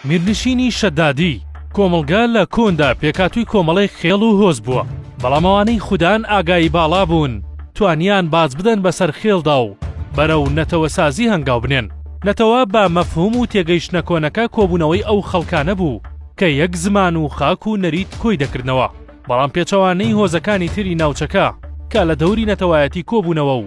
میرنشینی شەدادی، کۆمەڵگە لە کۆندا پێکاتووی کۆمەڵێک خێڵ و هۆز بووە، بەڵام ئەوانەی خودان ئاگایی باڵا بوون توانیان باج بدەن بەسەر خێڵدا و بەرەو نەتەوەسازی هەنگاو بنێن. نەتەوە بە مەفهووم و تێگەیشتنە کۆنەکە کۆبوونەوەی ئەو خەڵکانە بوو کە یەک زمان و خاک و نەریت کۆی دەکردنەوە، بەڵام پێچەوانەی هۆزەکانی تری ناوچەکە کە لە دەوری نەتەوایەتی کۆبوونەوە و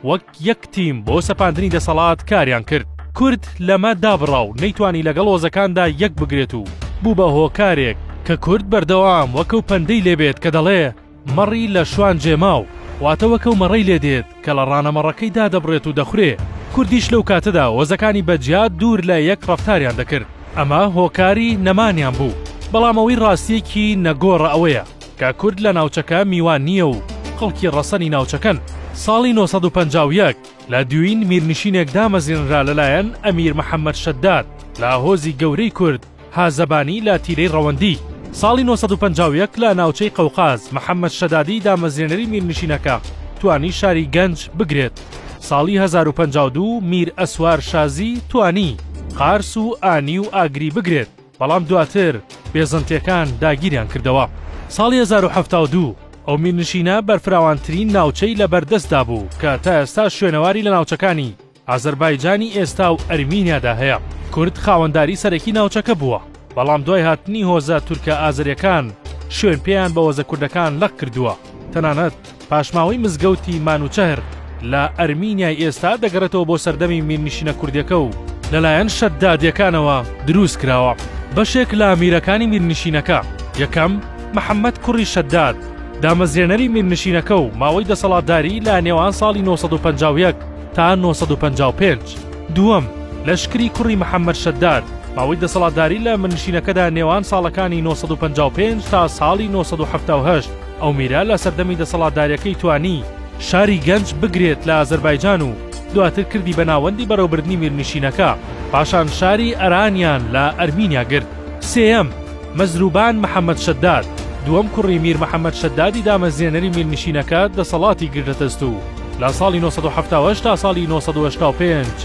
وەک یەک تیم بۆ سەپاندنی دەسەڵات کاریان کرد. کورد لەمە دابڕا و نەیتوانی لەگەڵ هۆزەکاندا یەک بگرێت و بوو بە هۆکارێک کە کورد بەردەوام وەکەو پەندەی لێ بێت کە دەڵێ مەڕی لە شوان جێ ماو، واتە وەکەو مەڕەی لێ دێت کە لە ڕانە مەڕەکەی دادەبڕێت و دەخورێ. کوردیش لەو کاتەدا هۆزەکانی بە جیا دوور لە یەک ڕەفتاریان دەکرد. ئەمە هۆکاری نەمانیان بوو. بەڵام ئەوەی ڕاستییەکی نەگۆڕە ئەوەیە کە کورد لە ناوچەکە میوان نییە و خەڵکی ڕەسەنی ناوچەکەن. ساڵی نۆ سەد و پەنجا و یەک لە دوین میرنشینێک دامەزرێنرا لەلایەن ئەمیر محەمەد شەداد لە هۆزی گەورەی کورد هازەبانی لە تیرەی ڕەوەندی. ساڵی نۆ سەد و پەنجا و یەک لە ناوچەی قەوقاز محەمەد شەدادی دامەزرێنەری میرنشینەکە توانی شاری گەنج بگرێت. ساڵی هەزار و پەنجا و دوو میر ئەسوار شازی توانی قارس و ئانی و ئاگری بگرێت. بەڵام دواتر بێزەنتیەکان داگیریان کردەوە. ساڵی هەزار و حەفتا و دوو ئەو میرنشینە بەرفراوانترین ناوچەی لە بەردەستدا بوو کە تا ئێستا شوێنەواری لە ناوچەکانی ئازەربایجانی ئێستا و ئەرمینیادا هەیە. کورد خاوەنداری سەرەکی ناوچەکە بووە، بەڵام دوای هاتنی هۆزە تورکە ئازەریەکان شوێن پێیان بە هۆزە کوردەکان لەق کردووە، تەنانەت. پاشماوەی مزگەوتی مانوچەهر لە ئەرمینیای ئێستا دەگەڕێتەوە بۆ سەردەمی میرنشینە کوردەکە و لەلایەن شەددادیەکانەوە دروست کراوە. بەشێک لە میرەکانی میرنشینەکە، یەکەم، محەمەد کوڕی شەدداد، دامەزرێنەری میرنشینەکە و ماوەی دەسەڵاتداریی لە نێوان ساڵی نۆ سەد و پەنجا و یەک تا نۆ سەد و پەنجا و پێنج، دووەم، لەشکری کوڕی محەمەد شەدداد، ماوەی دەسەڵاتداریی لە میرنشینەکەدا نێوان ساڵەکانی نۆ سەد و پەنجا و پێنج تا ساڵی نۆ سەد و حەفتا و هەشت، ئەو میرە لە سەردەمی دەسەڵاتداریەکەی توانی شاری گەنج بگرێت لە ئازەربایجان و دواتر کردی بە ناوەندی بەرەوبردنی میرنشینەکە، پاشان شاری ئەرانیان لە ئەرمینیا گرت. سێیەم، مەزروبان محەمەد شەداد، دووەم کوڕی میر محەمەد شەدادی دامەزرێنەری میرنشینەکە دەسەڵاتی گرتە دەست و لە ساڵی نۆ سەد و حەفتا و هەشت تا ساڵی نۆ سەد و هەشتا و پێنج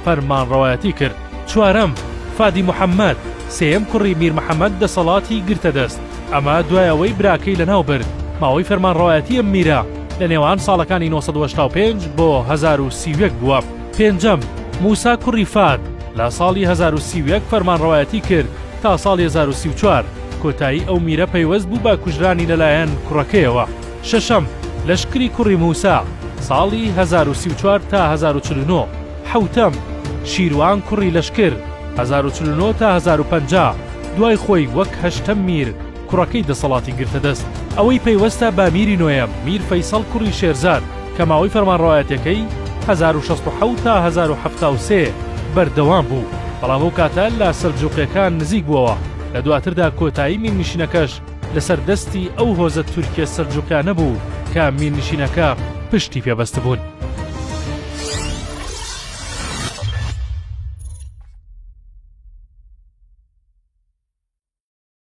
فەرمانڕەوایەتی کرد. چوارەم، فادی محەمەد، سێیەم کوڕی میر محەمەد دەسەڵاتی گرتە دەست. ئەمە دوای ئەوەی براکەی لەناو برد. ماوەی فەرمانڕەوایەتی ئەم میرە لە نێوان ساڵەکانی نۆ سەد و هەشتا و پێنج بۆ هەزار و سی و یەک بووە. پێنجەم، موسا کوڕی فاد، لە ساڵی هەزار و سی و یەک فەرمانڕەوایەتی کرد تا ساڵی هەزار و سی و چوار. کۆتایی ئەو میرە پەیوەست بوو بە کوژرانی لەلایەن کوڕەکەیەوە. شەشەم، لەشکری کوڕی موسا، ساڵی هەزار و سی و چوار تا هەزار و چل و نۆ. حەوتەم، شیروان کوڕی لەشکر، هەزار و چل و نۆ تا هەزار و پەنجا، دوای خۆی وەک هەشتەم میر کوڕەکەی دەسەڵاتی گرتە دەست. ئەوەی پەیوەستە بە میری نۆیەم، میر فەیسەڵ کوڕی شێرزاد، کە ماوەی فەرمانڕەوایەتیەکەی، هەزار و شەست و حەوت تا هەزار و حەفتا و سێ، بەردەوام بوو، بەڵام ئەو کاتە لە سەلجوقیەکان نزیک بووەوە، لە دواتردا کۆتایی میرنشینەکەش لەسەر دەستی ئەو هۆزە تورکیە سەلجوقیانە بوو کە میرنشینەکە پشتی پێ بەستبوون.